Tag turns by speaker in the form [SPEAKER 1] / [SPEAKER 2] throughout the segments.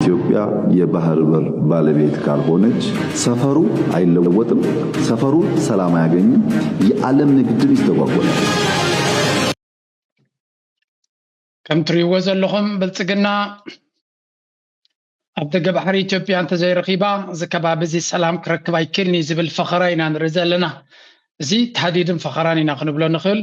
[SPEAKER 1] ኢትዮጵያ የባህር በር ባለቤት ካልሆነች ሰፈሩ ኣይለወጥም ሰፈሩ ሰላም ኣያገኝም የኣለም ንግድም ይስተጓጎላል።
[SPEAKER 2] ከም ትሪእዎ ዘለኹም ብልፅግና ኣብ ደገ ባሕሪ ኢትዮጵያ እንተዘይረኺባ እዚ ከባቢ እዚ ሰላም ክረክብ ኣይክእልን እዩ ዝብል ፈኸራ ኢና ንርኢ ዘለና እዚ ታህዲድን ፈኸራን ኢና ክንብሎ ንኽእል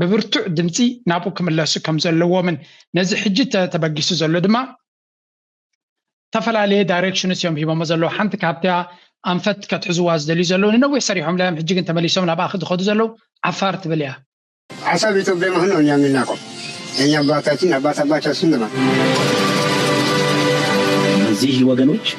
[SPEAKER 2] ብብርቱዕ ድምጺ ናብኡ ክምለሱ ከም ዘለዎምን ነዚ ሕጂ ተበጊሱ ዘሎ ድማ ዝተፈላለየ ዳይሬክሽንስ እዮም ሂቦሞ ዘለዉ ሓንቲ ካብቲያ ኣንፈት ከትሕዝዋ ዝደልዩ ዘለዉ ንነዊሕ ሰሪሖም ላዮም ሕጂ ግን ተመሊሶም ናብኣ ዝኸዱ ዘለዉ ዓፋር ትብል እያ ሀሳብ
[SPEAKER 3] ኢትዮጵያ መሆን ነው እኛ የምናውቀው የእኛ አባታችን አባት አባታችን ነው በዚህ
[SPEAKER 4] ወገኖች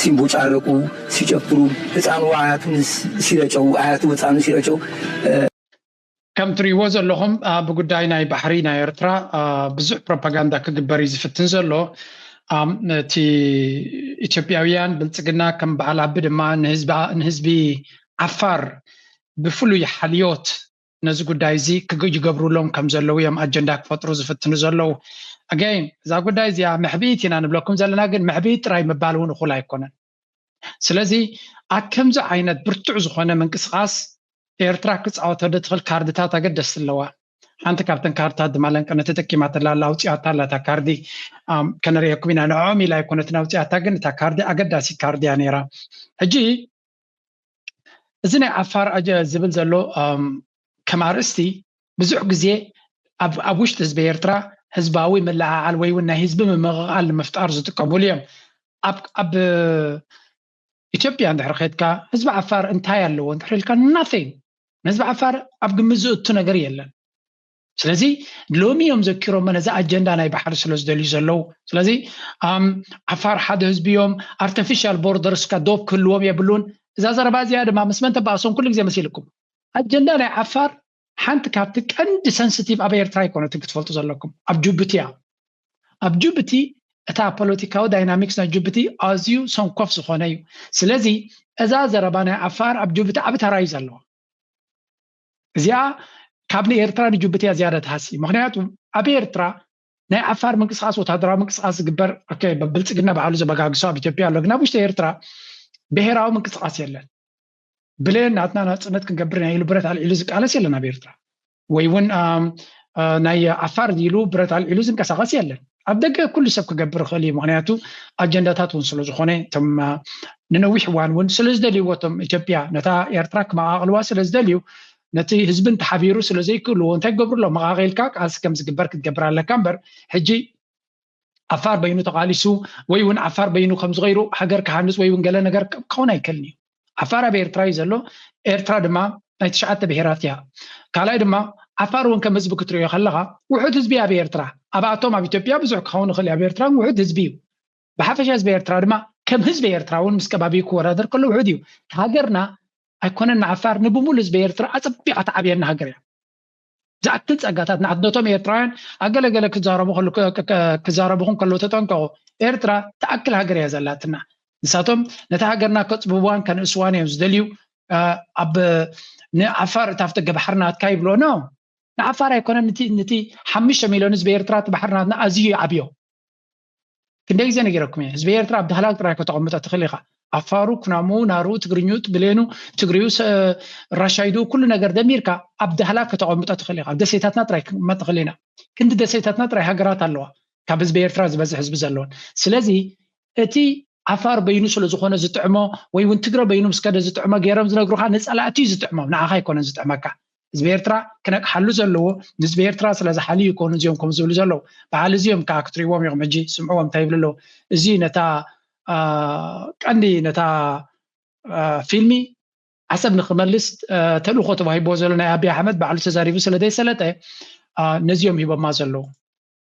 [SPEAKER 5] ሲንቦጫረቁ ሲጨፍሩ ህጻኑ ኣያቱ ምስ ሲረጨው ኣያቱ ህጻኑ ሲረጨው።
[SPEAKER 2] ከም ትሪእዎ ዘለኹም ብጉዳይ ናይ ባሕሪ ናይ ኤርትራ ብዙሕ ፕሮፓጋንዳ ክግበር እዩ ዝፍትን ዘሎ። እቲ ኢትዮጵያውያን ብልጽግና ከም በዓል ኣቢ ድማ ንህዝቢ ዓፋር ብፍሉይ ሓልዮት ነዚ ጉዳይ እዚ ይገብሩሎም ከም ዘለዉ እዮም ኣጀንዳ ክፈጥሩ ዝፍትኑ ዘለዉ። ኣገይን እዛ ጉዳይ እዚኣ መሕብኢት ኢና ንብለኩም ዘለና ግን መሕብኢት ጥራይ ምባል እውን እኹል ኣይኮነን። ስለዚ ኣብ ከምዚ ዓይነት ብርቱዕ ዝኾነ ምንቅስቓስ ኤርትራ ክጻወቶ ድትኽል ካርድታት ኣገደስቲ ኣለዋ። ሓንቲ ካብተን ካርድታት ድማ ለንቅነ ተጠቂማትላ ኣላ ኣውጺኣታ ኣላ እታ ካርዲ ከነርእየኩም ኢና ንዕኦም ኢላ ኣይኮነትን ኣውጺኣታ ግን እታ ካርዲ ኣገዳሲት ካርዲ እያ ነይራ ሕጂ እዚ ናይ ዓፋር ዝብል ዘሎ ከም ኣርእስቲ ብዙሕ ግዜ ኣብ ውሽጢ ህዝቢ ኤርትራ ህዝባዊ ምልዕዓል ወይ እውን ናይ ህዝቢ ምምቕቓል ንምፍጣር ዝጥቀሙሉ እዮም ኣብ ኢትዮጵያ እንድሕር ኼድካ ህዝቢ ዓፋር እንታይ ኣለዎ እንድሕር ኢልካ ናቲንግ ንህዝቢ ዓፋር ኣብ ግምት ዝእቱ ነገር የለን ስለዚ ሎሚ እዮም ዘኪሮሞ ነዚ ኣጀንዳ ናይ ባሕሪ ስለ ዝደልዩ ዘለዉ ስለዚ ዓፋር ሓደ ህዝቢ እዮም ኣርቲፊሻል ቦርደርስካ ዶብ ክህልዎም የብሉን እዛ ዘረባ እዚኣ ድማ ምስ መን ተባእሶም ኩሉ ግዜ መሲልኩም ኣጀንዳ ናይ ዓፋር ሓንቲ ካብቲ ቀንዲ ሰንስቲቭ ኣብ ኤርትራ ኣይኮነትን ክትፈልጡ ዘለኩም ኣብ ጅቡቲ እያ ኣብ ጅቡቲ እታ ፖለቲካዊ ዳይናሚክስ ናይ ጅቡቲ ኣዝዩ ሰንኮፍ ዝኾነ እዩ ስለዚ እዛ ዘረባ ናይ ዓፋር ኣብ ጅቡቲ ዓብ ተራ እዩ ዘለዎ እዚኣ ካብ ንኤርትራ ንጅቡቲ እያ ዝያዳ ትሃሲ ምክንያቱ ኣብ ኤርትራ ናይ ዓፋር ምንቅስቃስ ወታደራዊ ምንቅስቃስ ዝግበር ብልፅግና ባዕሉ ዘበጋግሶ ኣብ ኢትዮጵያ ኣሎ ግን ኣብ ውሽጢ ኤርትራ ብሄራዊ ምንቅስቃስ የለን ብሌን ናትና ናፅነት ክንገብር ናይ ኢሉ ብረት ኣልዒሉ ዝቃለስ የለን ኣብ ኤርትራ ወይ እውን ናይ ዓፋር ኢሉ ብረት ኣልዒሉ ዝንቀሳቀስ የለን ኣብ ደገ ኩሉ ሰብ ክገብር ይኽእል ኢዩ ምኽንያቱ ኣጀንዳታት ውን ስለ ዝኾነ እቶም ንነዊሕ እዋን ውን ስለ ዝደልይዎ እቶም ኢትዮጵያ ነታ ኤርትራ ክመቓቕልዋ ስለ ዝደልዩ ነቲ ህዝብን ተሓቢሩ ስለ ዘይክእልዎ እንታይ ክገብሩ ኣሎ መቓቒልካ ቃልሲ ከም ዝግበር ክትገብር ኣለካ እምበር ሕጂ ዓፋር በይኑ ተቓሊሱ ወይ ውን ዓፋር በይኑ ከም ዝቐይሩ ሃገር ክሃንጽ ወይ ውን ገለ ነገር ክኸውን ኣይክእልን ኢዩ ዓፋር ኣብ ኤርትራ እዩ ዘሎ ኤርትራ ድማ ናይ ትሽዓተ ብሄራት እያ ካልኣይ ድማ ዓፋር እውን ከም ህዝቢ ክትሪኦ ከለኻ ውሑድ ህዝቢ ኣብ ኤርትራ ኣብኣቶም ኣብ ኢትዮጵያ ብዙሕ ክኸውን ይኽእል ኣብ ኤርትራ ውሑድ ህዝቢ እዩ ብሓፈሻ ህዝቢ ኤርትራ ድማ ከም ህዝቢ ኤርትራ እውን ምስ ከባቢኡ ክወዳደር ከሎ ውሑድ እዩ ሃገርና ኣይኮነን ንዓፋር ንብሙሉ ህዝቢ ኤርትራ ኣጸቢቓ ትዓብየና ሃገር እያ ዝኣክል ጸጋታት ናሕትነቶም ኤርትራውያን ኣብ ገለ ገለ ክዛረቡኹም ከለዉ ተጠንቀቑ ኤርትራ ትኣክል ሃገር እያ ዘላትና ንሳቶም ነታ ሃገርና ከጽብብዋን ከንእስዋን እዮም ዝደልዩ ኣብ ንዓፋር እታ ኣብቲ ገባሕሪ ናትካ ይብሎ ኖ ንዓፋር ኣይኮነን ንቲ ሓሙሽተ ሚልዮን ህዝቢ ኤርትራ እቲ ባሕሪ ናትና ኣዝዩ ይዓብዮ ክንደይ ግዜ ነጊረኩም እየ ህዝቢ ኤርትራ ኣብ ዳህላክ ጥራይ ከተቐምጦ ትኽእል ኢኻ ኣፋሩ ኩናሙ ናሩ ትግርኙ ብሌኑ ትግሪዩ ራሻይዱ ኩሉ ነገር ደሚርካ ኣብ ዳህላክ ከተቐምጦ ትኽእል ኢኻ ደሴታትና ጥራይ ክንቅመጥ ንኽእል ኢና ክንዲ ደሴታትና ጥራይ ሃገራት ኣለዋ ካብ ህዝቢ ኤርትራ ዝበዝሕ ህዝቢ ዘለወን ስለዚ እቲ ዓፋር በይኑ ስለ ዝኾነ ዝጥዕሞ ወይ እውን ትግረ በይኑ ምስ ከደ ዝጥዕሞ ገይሮም ዝነግሩኻ ንፀላእቲ እዩ ዝጥዕሞም ንዓኻ ኣይኮነን ዝጥዕመካ ህዝቢ ኤርትራ ክነቅሓሉ ዘለዎ ንህዝቢ ኤርትራ ስለ ዝሓልዩ ይኮኑ እዚኦም ከም ዝብሉ ዘለዉ በዓል እዚኦም ከዓ ክትሪእዎም ኢኹም ሕጂ ስምዕዎም እንታይ ይብሉ ኣለዉ እዚ ነታ ቀንዲ ነታ ፊልሚ ዓሰብ ንክመልስ ተልእኮ ተዋሂቦ ዘሎ ናይ ኣብዪ ኣሕመድ ባዕሉ ተዛሪቡ ስለ ዘይሰለጠ ነዚኦም ሂቦማ ዘለዉ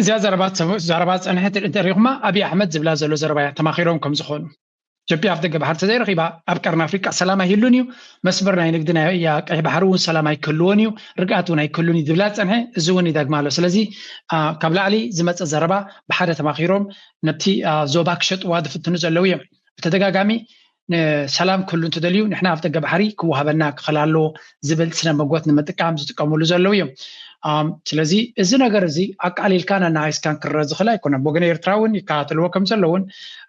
[SPEAKER 2] እዚኣ ዘረባ ዘረባ ዝፀንሐት እንተሪኢኹማ ኣብይ ኣሕመድ ዝብላ ዘሎ ዘረባ እያ ተማኺሮም ከም ዝኾኑ ኢትዮጵያ ኣብ ደገ ባሕሪ ተዘይረኺባ ኣብ ቀርኒ ኣፍሪቃ ሰላም ኣይህሉን እዩ መስመር ናይ ንግዲ ናይ ቀይሕ ባሕሪ እውን ሰላም ኣይክህልዎን እዩ ርግኣት እውን ኣይክህሉን እዩ ዝብላ ዝፀንሐ እዚ እውን ይደግማ ኣሎ ስለዚ ካብ ላዕሊ ዝመፀ ዘረባ ብሓደ ተማኺሮም ነቲ ዞባ ክሸጥዋ ዝፍትኑ ዘለው እዮም ብተደጋጋሚ ሰላም ክህሉ እንትደልዩ ንሕና ኣብ ደገ ባሕሪ ክወሃበና ክኸል ኣለዎ ዝብል ስነ መጎት ንምጥቃም ዝጥቀምሉ ዘለዉ እዮም ስለዚ እዚ ነገር እዚ ኣቃሊልካን ኣናሃይስካን ክረአ ዝኽእል ኣይኮነን ብወገነ ኤርትራ እውን ይከታተልዎ ከም ዘለውን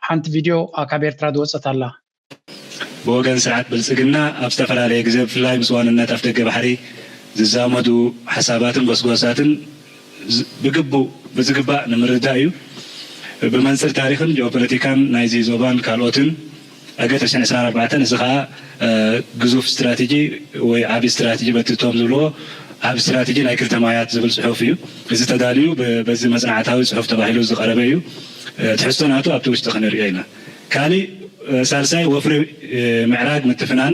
[SPEAKER 2] ሓንቲ ቪድዮ ካብ ኤርትራ ዝወፀት ኣላ
[SPEAKER 6] ብወገን ስርዓት ብልፅግና ኣብ ዝተፈላለየ ግዜ ብፍላይ ምስ ዋንነት ኣፍደገ ባሕሪ ዝዛመዱ ሓሳባትን ጎስጓሳትን ብግቡእ ብዝግባእ ንምርዳእ እዩ። ብመንፅር ታሪኽን ጂኦፖለቲካን ናይዚ ዞባን ካልኦትን ዕገት ዕስራን ዕስራን ኣርባዕተን እዚ ከዓ ግዙፍ ስትራቴጂ ወይ ዓብዪ ስትራቴጂ በቲ እቶም ዝብልዎ ዓቢ ስትራቴጂ ናይ ክልተ ማያት ዝብል ፅሑፍ እዩ። እዚ ተዳልዩ በዚ መፅናዕታዊ ፅሑፍ ተባሂሉ ዝቐረበ እዩ። ትሕዝቶ ናቱ ኣብቲ ውሽጢ ክንሪኦ ኢና። ካሊእ ሳልሳይ ወፍሪ ምዕራግ ምትፍናን፣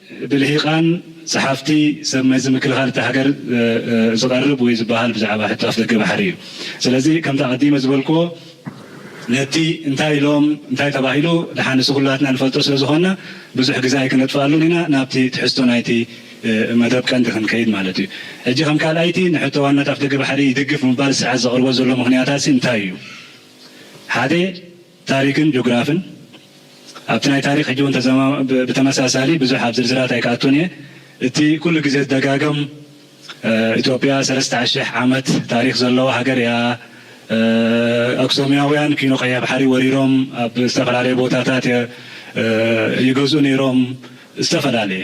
[SPEAKER 6] ብልሂቃን ጸሓፍቲ ሰብ መዚ ምክልኻል እታ ሃገር ዝቐርብ ወይ ዝበሃል ብዛዕባ ሕቶ ኣፍደገ ባሕሪ እዩ። ስለዚ ከምቲ ኣቐዲመ ዝበልክዎ ነቲ እንታይ ኢሎም እንታይ ተባሂሉ ደሓን ንሱ ኩላትና ንፈልጦ ስለ ዝኾንና ብዙሕ ግዜ ኣይክነጥፍኣሉን ኢና ናብቲ ትሕዝቶ ናይቲ መደብ ቀንዲ ክንከይድ ማለት እዩ። ሕጂ ከም ካልኣይቲ ንሕቶ ዋናት ኣፍደገ ባሕሪ ይድግፍ ምባል ስርዓት ዘቕርቦ ዘሎ ምኽንያታትሲ እንታይ እዩ? ሓደ። ታሪክን ጆግራፍን ኣብቲ ናይ ታሪክ ሕጂ ውን ብተመሳሳሊ ብዙሕ ኣብ ዝርዝራት ኣይክኣቱን እየ እቲ ኩሉ ግዜ ዝደጋገም ኢትዮጵያ ሰለስተ ኣሽሕ ዓመት ታሪክ ዘለዋ ሃገር እያ ኣክሶምያውያን ኪኖ ቀይሕ ባሕሪ ወሪሮም ኣብ ዝተፈላለየ ቦታታት ይገዝኡ ነይሮም ዝተፈላለየ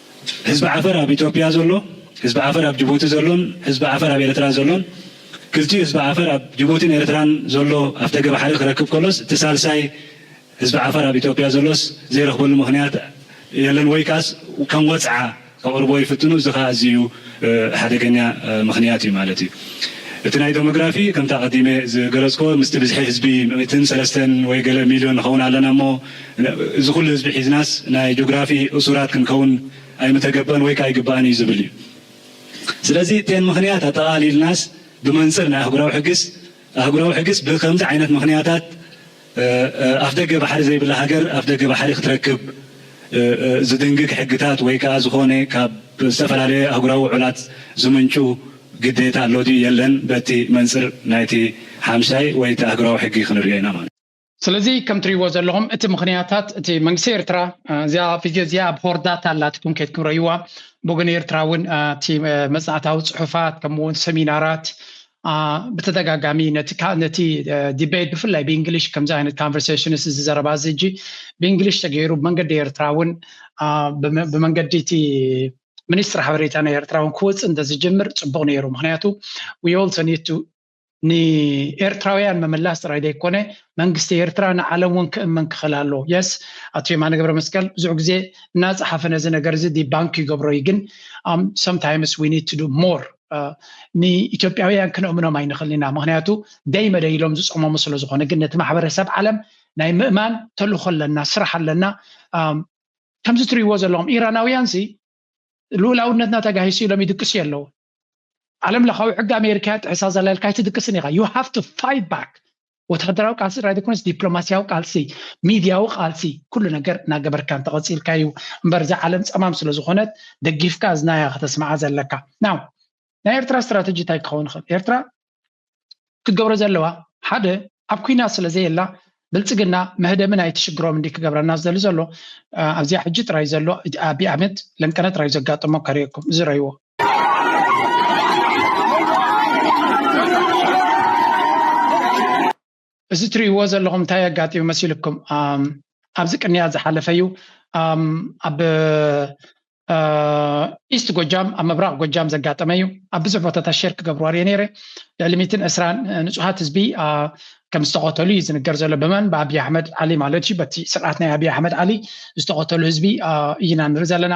[SPEAKER 6] ህዝቢ ዓፈር ኣብ ኢትዮጵያ ዘሎ፣ ህዝቢ ዓፈር ኣብ ጅቡቲ ዘሎን ህዝቢ ዓፈር ኣብ ኤርትራ ዘሎን፣ ክልቲኡ ህዝቢ ዓፈር ኣብ ጅቡቲን ኤርትራን ዘሎ ኣፍደገ ባሕሪ ክረክብ ከሎስ እቲ ሳልሳይ ህዝቢ ዓፈር ኣብ ኢትዮጵያ ዘሎስ ዘይረኽበሉ ምኽንያት የለን ወይ ከኣስ ከም ወጽዓ ከቕርብዎ ይፍትኑ እዚ ከኣ ኣዚዩ ሓደገኛ ምኽንያት እዩ ማለት እዩ። እቲ ናይ ደሞግራፊ ከምቲ ኣቐዲመ ዝገለጽክዎ ምስቲ ብዝሒ ህዝቢ ምእትን ሰለስተን ወይ ገለ ሚልዮን ንኸውን ኣለና እሞ፣ እዚ ኩሉ ህዝቢ ሒዝናስ ናይ ጆግራፊ እሱራት ክንከውን ኣይምተገበን ወይከ ኣይግባእን እዩ ዝብል እዩ። ስለዚ እተን ምኽንያት ኣጠቓሊልናስ ብመንጽር ናይ ኣህጉራዊ ሕግስ ኣህጉራዊ ሕግስ ብከምዚ ዓይነት ምኽንያታት ኣፍደገ ባሕሪ ዘይብላ ሃገር ኣፍደገ ባሕሪ ክትረክብ ዝድንግግ ሕግታት ወይ ከኣ ዝኾነ ካብ ዝተፈላለየ ኣህጉራዊ ውዑላት ዝምንጩ ግዴታ ኣሎ ድዩ የለን በቲ መንጽር ናይቲ ሓምሻይ ወይ እቲ ኣህጉራዊ ሕጊ ክንርእዮ ኢና ማለት እዩ። ስለዚ ከም
[SPEAKER 2] ትሪእዎ ዘለኹም እቲ ምኽንያታት እቲ መንግስቲ ኤርትራ እዚኣ ቪድዮ እዚኣ ኣብ ሆርዳታ ኣላ ትኩን ከይትኩም ረእይዋ ብወገን ኤርትራ እውን እቲ መጽናዕታዊ ጽሑፋት ከምኡ እውን ሰሚናራት ብተደጋጋሚ ነቲ ዲቤት ብፍላይ ብእንግሊሽ ከምዚ ዓይነት ካንቨርሴሽንስ እዚ ዘረባ እዚ እጂ ብእንግሊሽ ተገይሩ ብመንገዲ ኤርትራ እውን ብመንገዲ እቲ ሚኒስትሪ ሓበሬታ ናይ ኤርትራ እውን ክወፅእ እንተዝጅምር ፅቡቕ ነይሩ ምክንያቱ ዊ ኦልሶ ኒድ ቱ ንኤርትራውያን ምምላስ ጥራይ ዘይኮነ መንግስቲ ኤርትራ ንዓለም እውን ክእመን ክኽእል ኣለዎ የስ ኣቶ የማነ ገብረ መስቀል ብዙሕ ግዜ እናፀሓፈ ነዚ ነገር እዚ ዲባንክ ይገብሮ እዩ ግን ሰምታይምስ ዊ ኒድ ቱ ዱ ሞር ንኢትዮጵያውያን ክነእምኖም ኣይንኽእል ኢና ምክንያቱ ደይ መደይ ኢሎም ዝፀመሙ ስለ ዝኾነ ግን ነቲ ማሕበረሰብ ዓለም ናይ ምእማን ተልእኾ ኣለና ስራሕ ኣለና ከምዚ ትሪእዎ ዘለኹም ኢራናውያን ሲ ልኡላውነትና ተጋሂሱ ኢሎም ይድቅሱ የለው ዓለም ለኻዊ ሕጊ ኣሜሪካ ጥሕሳ ዘላ ኢልካ ኣይትድቅስን ኢኻ ዩ ሃቭ ቱ ፋይት ባክ ወተሃደራዊ ቃልሲ ጥራይ ዘይኮነስ ዲፕሎማስያዊ ቃልሲ ሚድያዊ ቃልሲ ኩሉ ነገር እናገበርካ እንተቐፂልካ እዩ እምበር እዛ ዓለም ፀማም ስለዝኾነት ደጊፍካ እዝናያ ከተስምዓ ዘለካ ናው ናይ ኤርትራ ስትራተጂ እንታይ ክኸውን ይኽእል? ኤርትራ ክትገብሮ ዘለዋ ሓደ ኣብ ኩናት ስለ ዘየላ ብልጽግና መህደሚ ናይቲ ሽግሮም እንዲ ክገብረና ዝደሊ ዘሎ ኣብዚኣ ሕጂ ጥራይ ዘሎ ኣቢ ኣመት ለንቀነ ጥራይ ዘጋጠሞ ከርእየኩም እዚ ረይዎ እዚ ትሪእዎ ዘለኹም እንታይ ኣጋጢሙ መሲልኩም ኣብዚ ቅንያት ዝሓለፈ እዩ ኣብ ኢስት ጎጃም ኣብ ምብራቅ ጎጃም ዘጋጠመ እዩ ኣብ ብዙሕ ቦታታት ሸር ክገብርዋ ሪኦ ነይረ ልዕሊ ሚትን ዕስራን ንፁሃት ህዝቢ ከም ዝተቐተሉ እዩ ዝንገር ዘሎ ብመን ብኣብይ ኣሕመድ ዓሊ ማለት እዩ በቲ ስርዓት ናይ ኣብይ ኣሕመድ ዓሊ ዝተቐተሉ ህዝቢ እይና ንርኢ ዘለና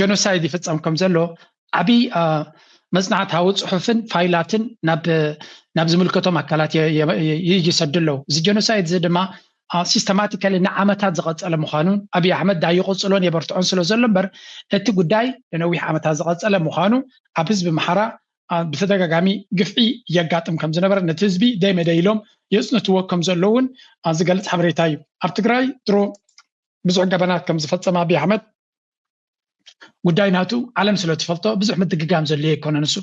[SPEAKER 2] ጀኖሳይድ ይፍፀም ከም ዘሎ ዓብይ መፅናዕታዊ ፅሑፍን ፋይላትን ናብ ዝምልከቶም ኣካላት ይሰዱ ኣለዉ እዚ ጀኖሳይድ እዚ ድማ ሲስተማቲካሊ ንዓመታት ዝቐፀለ ምዃኑን ኣብዪ ኣሕመድ ዳ ይቕፅሎን የበርትዖን ስለ ዘሎ እምበር እቲ ጉዳይ ንነዊሕ ዓመታት ዝቐፀለ ምዃኑ ኣብ ህዝቢ ምሓራ ብተደጋጋሚ ግፍዒ የጋጥም ከም ዝነበረ ነቲ ህዝቢ ደይመደ ኢሎም የፅንትዎ ከም ዘለውን ዝገልፅ ሓበሬታ እዩ ኣብ ትግራይ ድሮ ብዙሕ ገበናት ከም ዝፈፀመ ኣብዪ ኣሕመድ ጉዳይ ናቱ ዓለም ስለ ትፈልጦ ብዙሕ ምድግጋም ዘድልዮ ኣይኮነን ንሱ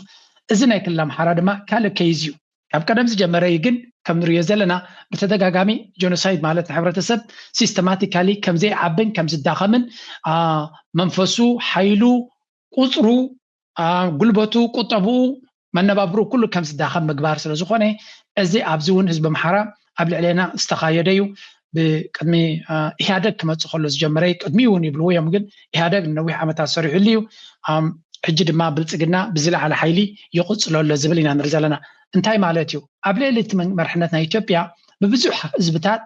[SPEAKER 2] እዚ ናይ ክልል ኣምሓራ ድማ ካልእ ከይዝ እዩ ካብ ቀደም ዝጀመረ እዩ ግን ከም ንሪኦ ዘለና ብተደጋጋሚ ጆኖሳይድ ማለት ንሕብረተሰብ ሲስተማቲካሊ ከም ዘይዓብን ከም ዝዳኸምን መንፈሱ ሓይሉ ቁፅሩ ጉልበቱ፣ ቁጠብኡ፣ መነባብርኡ ኩሉ ከም ዝዳኸም ምግባር ስለ ዝኾነ እዚ ኣብዚ እውን ህዝቢ ኣምሓራ ኣብ ልዕሌና ዝተኻየደ እዩ። ብቅድሚ ኢህኣደግ ክመፅእ ከሎ ዝጀመረ እዩ። ቅድሚኡ እውን ይብልዎ እዮም ግን ኢህኣደግ ንነዊሕ ዓመታት ሰሪሑሉ እዩ። ሕጂ ድማ ብልፅግና ብዝለዓለ ሓይሊ ይቕፅሎ ኣሎ ዝብል ኢና ንርኢ ዘለና። እንታይ ማለት እዩ? ኣብ ልዕሊ እቲ መርሕነት ናይ ኢትዮጵያ ብብዙሕ ህዝብታት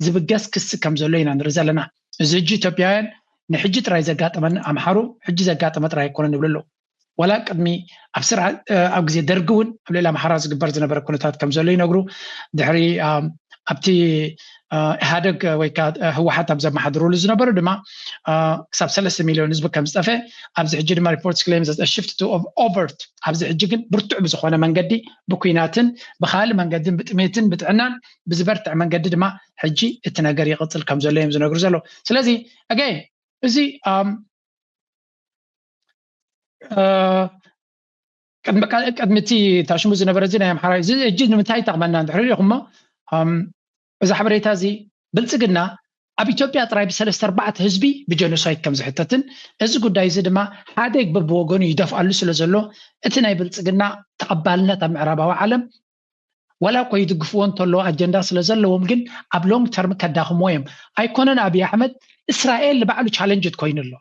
[SPEAKER 2] ዝብገስ ክሲ ከም ዘሎ ኢና ንርኢ ዘለና። እዚ ሕጂ ኢትዮጵያውያን ንሕጂ ጥራይ ዘጋጠመና ኣምሓሩ ሕጂ ዘጋጠመ ጥራይ ኣይኮነን ይብሉ ኣለዉ። ዋላ ቅድሚ ኣብ ስርዓ ኣብ ግዜ ደርጊ እውን ኣብ ልዕሊ ኣምሓራ ዝግበር ዝነበረ ኩነታት ከም ዘሎ ይነግሩ። ድሕሪ ኣብቲ ኢህኣደግ ወይ ከዓ ህወሓት ኣብ ዘመሓድሩሉ ዝነበሩ ድማ ክሳብ ሰለስተ ሚሊዮን ህዝቢ ከም ዝጠፈ ኣብዚ ሕጂ ድማ ሪፖርትስ ክሌም ዘ ሽፍት ቱ ኦቨርት ኣብዚ ሕጂ ግን ብርቱዕ ብዝኾነ መንገዲ ብኩናትን ብካልእ መንገድን ብጥሜትን ብጥዕናን ብዝበርትዐ መንገዲ ድማ ሕጂ እቲ ነገር ይቕፅል ከም ዘሎ እዮም ዝነግሩ ዘለዉ ስለዚ ኣገይን እዚ ቅድሚ እቲ ታሽሙ ዝነበረ እዚ ናይ ኣምሓራ እዚ ሕጂ ንምንታይ ይጠቕመና እንድሕር ኢኹሞ እዚ ሓበሬታ እዚ ብልፅግና ኣብ ኢትዮጵያ ጥራይ ብሰለስተ ኣርባዕተ ህዝቢ ብጀኖሳይድ ከም ዝሕተትን እዚ ጉዳይ እዚ ድማ ሓደግ በብወገኑ ይደፍኣሉ ስለ ዘሎ እቲ ናይ ብልፅግና ተቐባልነት ኣብ ምዕራባዊ ዓለም ዋላ እኮ ይድግፍዎ እንተለዉ ኣጀንዳ ስለ ዘለዎም ግን ኣብ ሎንግ ተርም ከዳኽምዎ እዮም ኣይኮነን ኣብይ ኣሕመድ እስራኤል ንባዕሉ ቻለንጅ ኮይኑ ኣሎ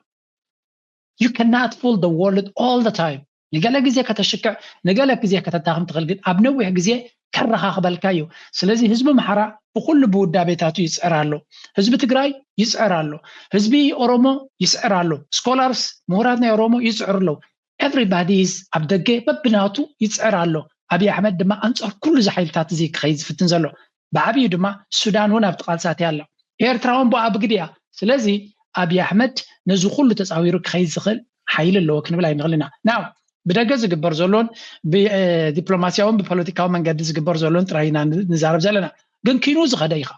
[SPEAKER 2] you cannot fool the world all the time ንገለ ግዜ ከተሽክዕ ንገለ ግዜ ከተዳኽም ትኽእል ግን ኣብ ነዊሕ ግዜ ከረኻኽበልካ እዩ ስለዚ ህዝቢ ኣምሓራ ብኩሉ ብውዳቤታቱ ይፅዕር ኣሎ ህዝቢ ትግራይ ይፅዕር ኣሎ ህዝቢ ኦሮሞ ይስዕር ኣሎ ስኮላርስ ምሁራት ናይ ኦሮሞ ይፅዕሩ ኣለዉ Everybody is ኣብ ደገ በብናቱ ይጽዕር ኣሎ፣ ኣብይ ኣሕመድ ድማ ኣንጻር ኩሉ እዚ ሓይልታት እዚ ክኸይድ ዝፍትን ዘሎ። ብዓብዩ ድማ ሱዳን ውን ኣብቲ ቃልስታት እያ ኣላ። ኤርትራ ውን ብኣ ብግዲ እያ። ስለዚ ኣብይ ኣሕመድ ነዚ ኩሉ ተጻዊሩ ክኸይድ ዝኽእል ሓይሊ ኣለዎ ክንብል ኣይንኽልን ኢና። Now ብደገ ዝግበር ዘሎን ብዲፕሎማስያውን ብፖለቲካዊ መንገዲ ዝግበር ዘሎን ጥራይ ኢና ንዛረብ ዘለና። ግን ኪኑ ዝኸደ እዩ ከኣ።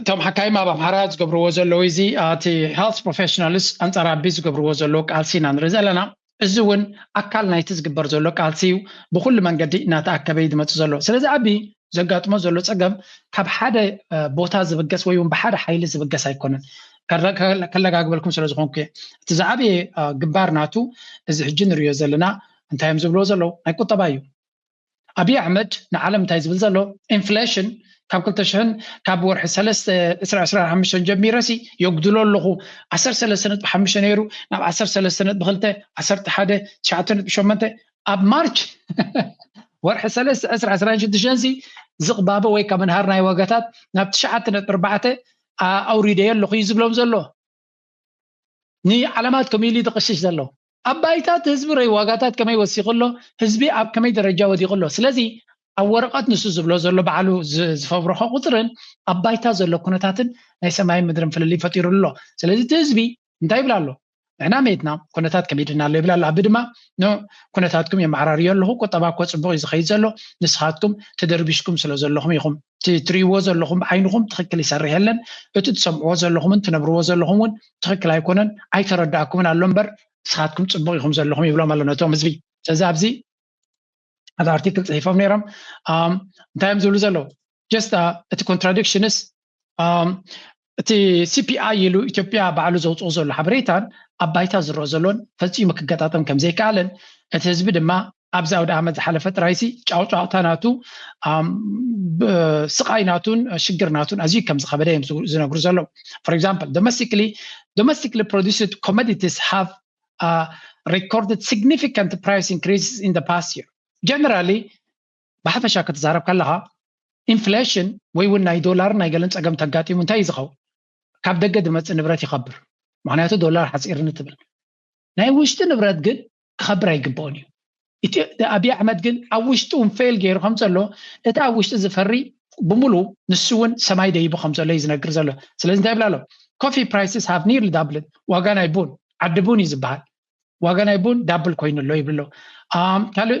[SPEAKER 2] እቶም ሓካይም ኣብ ኣምሓራ ዝገብርዎ ዘለዉ እዚ እቲ ሄልት ፕሮፌሽናልስ ኣንጻር ኣቢ ዝገብርዎ ዘለዉ ቃልሲ ኢና ንርኢ ዘለና እዚ እውን ኣካል ናይቲ ዝግበር ዘሎ ቃልሲ እዩ ብኩሉ መንገዲ እናተኣከበ እዩ ዝመፅእ ዘሎ ስለዚ ኣቢ ዘጋጥሞ ዘሎ ፀገም ካብ ሓደ ቦታ ዝብገስ ወይ እውን ብሓደ ሓይሊ ዝብገስ ኣይኮነን ከለጋግበልኩም ስለ ዝኾንኩ እየ እቲ ዝዓበየ ግንባር ናቱ እዚ ሕጂ ንሪዮ ዘለና እንታይ እዮም ዝብልዎ ዘለዉ ናይ ቁጠባ እዩ ኣብይ ኣሕመድ ንዓለም እንታይ ዝብል ዘሎ ኢንፍሌሽን ካብ ክልተ ሽሕን ካብ ወርሒ ሰለስተ ዕስራ ዕስራ ሓሙሽተን ጀሚረ ሲ የጉድሎ ኣለኹ ዓሰርተ ሰለስተ ነጥቢ ሓሙሽተ ነይሩ ናብ ዓሰርተ ሰለስተ ነጥቢ ክልተ ዓሰርተ ሓደ ትሽዓተ ነጥቢ ሸሞንተ ኣብ ማርች ወርሒ ሰለስተ ዕስራ ዕስራን ሽዱሽተን ሲ ዝቕባበ ወይ ካብ ምንሃር ናይ ዋጋታት ናብ ትሽዓተ ነጥቢ ኣርባዕተ ኣውሪደዮ ኣለኹ እዩ ዝብሎም ዘሎ ንዓለማት ከምኡ ኢሉ ዝቕሽሽ ዘሎ። ኣብ ባይታ እቲ ህዝቢ ረይ ዋጋታት ከመይ ወሲኹ ኣሎ፣ ህዝቢ ኣብ ከመይ ደረጃ ወዲቑ ኣሎ። ስለዚ ኣብ ወረቐት ንሱ ዝብሎ ዘሎ ባዕሉ ዝፈብረኾ ቁጽርን ኣብ ባይታ ዘሎ ኩነታትን ናይ ሰማይን ምድርን ፍልልይ ፈጢሩሉ ኣሎ። ስለዚ እቲ ህዝቢ እንታይ ይብል ኣሎ? ንሕና መይትና ኩነታት ከሚድና ኣሎ ይብል ኣሎ። ኣቢ ድማ ን ኩነታትኩም የመዓራርዮ ኣለኹ፣ ቁጠባ እኮ ጽቡቕ እዩ ዝኸይድ ዘሎ፣ ንስኻትኩም ተደርቢሽኩም ስለ ዘለኹም ኢኹም። እቲ ትርእይዎ ዘለኹም ዓይንኹም ትኽክል ይሰርሕ የለን እቲ ትሰምዕዎ ዘለኹምን ትነብርዎ ዘለኹም እውን ትኽክል ኣይኮነን ኣይተረዳእኩምን ኣሎ እምበር ንስኻትኩም ፅቡቅ ኢኹም ዘለኹም ይብሎም ኣሎ ነቶም ህዝቢ ስለዚ ኣብዚ ሓደ ኣርቲክል ፅሒፎም ነይሮም እንታይ እዮም ዝብሉ ዘለዉ ጀስት እቲ ኮንትራዲክሽንስ እቲ ሲፒኣይ ኢሉ ኢትዮጵያ ባዕሉ ዘውጽኦ ዘሎ ሓበሬታን ኣብ ባይታ ዝረኣ ዘሎን ፈጺሙ ክገጣጠም ከምዘይከኣለን እቲ ህዝቢ ድማ ኣብዚ ኣውደኣመት ዝሓለፈ ጥራይሲ ጫውጫውታ ናቱ ስቓይ ናቱን ሽግር ናቱን ኣዝዩ ከም ዝኸበደ እዮም ዝነግሩ ዘለዉ ፎር ኤግዛምፕል ዶሜስቲክሊ ዶሜስቲክሊ ፕሮዲስድ ኮሞዲቲስ ሃቭ ሬኮርድድ ሲግኒፊካንት ፕራይስ ኢንክሪስ ኢን ፓስት ይር ጀነራሊ ብሓፈሻ ክትዛረብ ከለኻ ኢንፍሌሽን ወይ እውን ናይ ዶላርን ናይ ገለን ፀገም ተጋጢሙ እንታይ እዩ ዝኸውን ካብ ደገ ዝመፅእ ንብረት ይኸብር ምክንያቱ ዶላር ሓፂርኒ ትብል ናይ ውሽጢ ንብረት ግን ክኸብር ኣይግብኦን እዩ ኣብዪ ኣሕመድ ግን ኣብ ውሽጢ እውን ፌል ገይሩ ከም ዘሎ እቲ ኣብ ውሽጢ ዝፈሪ ብሙሉ ንሱ እውን ሰማይ ደይቡ ከም ዘሎ እዩ ዝነግር ዘሎ ስለዚ እንታይ ይብላ ኣሎ ኮፊ ፕራይስስ ሃቭ ኒርሊ ዳብልን ዋጋ ናይ ቡን ዓዲ ቡን እዩ ዝበሃል ዋጋ ናይ ቡን ዳብል ኮይኑ ኣሎ ይብሉ ኣሎ ካልእ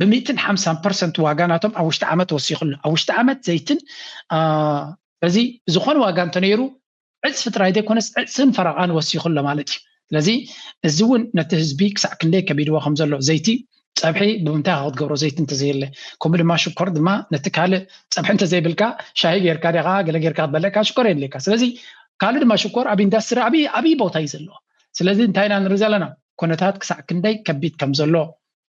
[SPEAKER 2] ብሚእትን ሓምሳን ፐርሰንት ዋጋ ናቶም ኣብ ውሽጢ ዓመት ወሲኹ ኣሎ ኣብ ውሽጢ ዓመት ዘይትን ስለዚ ዝኾነ ዋጋ እንተነይሩ ዕፅፊ ጥራይ ዘይኮነስ ዕፅን ፈረቓን ወሲኹ ኣሎ ማለት እዩ ስለዚ እዚ እውን ነቲ ህዝቢ ክሳዕ ክንደይ ከቢድዎ ከም ዘሎ ዘይቲ ፀብሒ ብምንታይ ካ ክትገብሮ ዘይቲ እንተዘየለ ከምኡ ድማ ሽኮር ድማ ነቲ ካልእ ፀብሒ እንተዘይብልካ ሻሂ ጌርካ ዲኻ ገለ ጌርካ ክትበልዕ ካብ ሽኮር የድልየካ ስለዚ ካልእ ድማ ሽኮር ኣብ ኢንዳስትሪ ዓብይ ዓብይ ቦታ እዩ ዘለዎ ስለዚ እንታይ ኢና ንርኢ ዘለና ኩነታት ክሳዕ ክንደይ ከቢድ ከም ዘሎ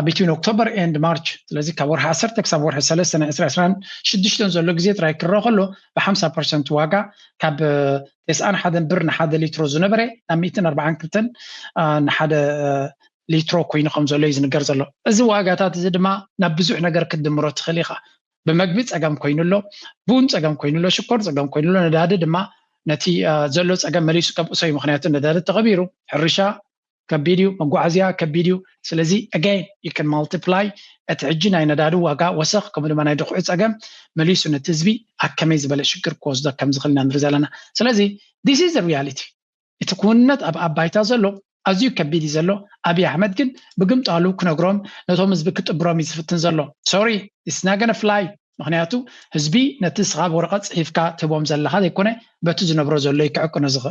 [SPEAKER 2] ኣብ ቢትዊን ኦክቶበር ኤንድ ማርች ስለዚ ካብ ወርሒ ዓሰርተ ክሳብ ወርሒ ሰለስተ ናይ ዕስራ ዕስራን ሽዱሽተን ዘሎ ግዜ ጥራይ ክረአ ከሎ ብሓምሳ ፐርሰንት ዋጋ ካብ ተስዓን ሓደን ብር ንሓደ ሊትሮ ዝነበረ ናብ ሚእትን ኣርባዓን ክልተን ንሓደ ሊትሮ ኮይኑ ከም ዘሎ እዩ ዝንገር ዘሎ እዚ ዋጋታት እዚ ድማ ናብ ብዙሕ ነገር ክትድምሮ ትኽእል ኢኻ ብመግቢ ፀገም ኮይኑ ኣሎ ቡን ፀገም ኮይኑ ኣሎ ሽኮር ፀገም ኮይኑ ኣሎ ነዳዲ ድማ ነቲ ዘሎ ፀገም መሊሱ ከብእሶ እዩ ምክንያቱ ነዳዲ ተቐቢሩ ሕርሻ ከቢድ እዩ መጓዓዝያ ከቢድ እዩ ስለዚ ኣገይን ዩ ካን ማልቲፕላይ እቲ ሕጂ ናይ ነዳዲ ዋጋ ወሰኽ ከምኡ ድማ ናይ ድኹዒ ጸገም መሊሱ ነቲ ህዝቢ ኣብ ከመይ ዝበለ ሽግር ክወስዶ ከም ዝኽእል ኢና ንርኢ ዘለና ስለዚ ዲስ ኢዝ ሪያሊቲ እቲ ክውንነት ኣብ ኣብ ባይታ ዘሎ ኣዝዩ ከቢድ እዩ ዘሎ ኣብይ ኣሕመድ ግን ብግምጣሉ ክነግሮም ነቶም ህዝቢ ክጥብሮም እዩ ዝፍትን ዘሎ ሶሪ ኢትስ ናት ጎነ ፍላይ ምክንያቱ ህዝቢ ነቲ ንስኻ ብወረቐት ጽሒፍካ ትህቦም ዘለኻ ዘይኮነ በቲ ዝነብሮ ዘሎ እዩ ክዕቅኖ ዝኽእል